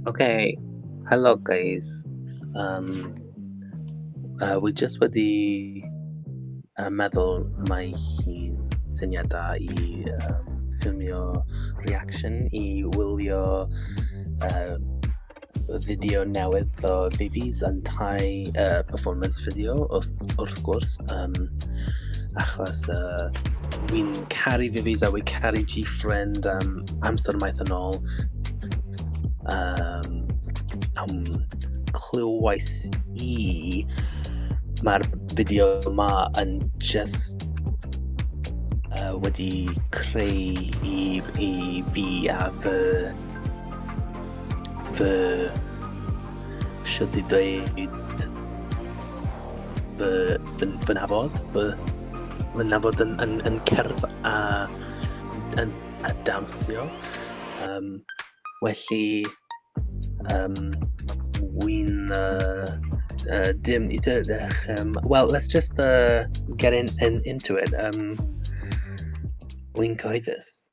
Okay, hello guys. Um, uh, we just wedi uh, meddwl mae hi'n syniad da i um, ffilmio reaction i wylio uh, fideo newydd o Vivi's yn tai uh, performance fideo wrth, wrth gwrs um, achos uh, wi'n caru Vivi's a wi'n caru G-Friend um, amser maith yn ôl um, am clywais i mae'r fideo yma yn just uh, wedi creu i, i fi a fy fy siwt i dweud fy, fy, fy nafod, fy, fy nafod yn, yn, yn cerdd a, yn, a dansio. Um, felly, um, wy'n uh, uh, dim i dydych. Um, well, let's just uh, get in, in, into it. Um, wy'n cyhoeddus.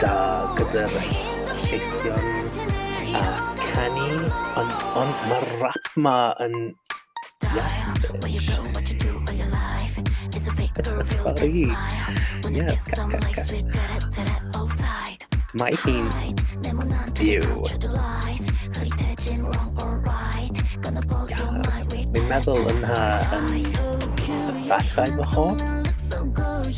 da gyda'r lleithion a canu ond ond mae'r rap ma yn Sorry. Yes, ca, ca, ca. Mae hi'n byw. Mi'n meddwl yna yn fathau fy hoff.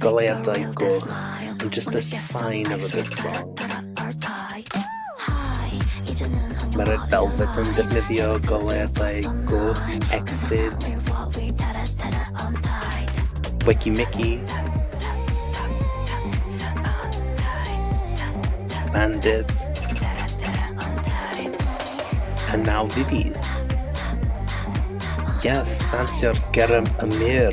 goleuadau goch yn just a sign of a good song. Mae Red Velvet yn defnyddio goleuadau goch exit Wiki Mickey Bandit a now Vivi's. Yes, that's your garum amir.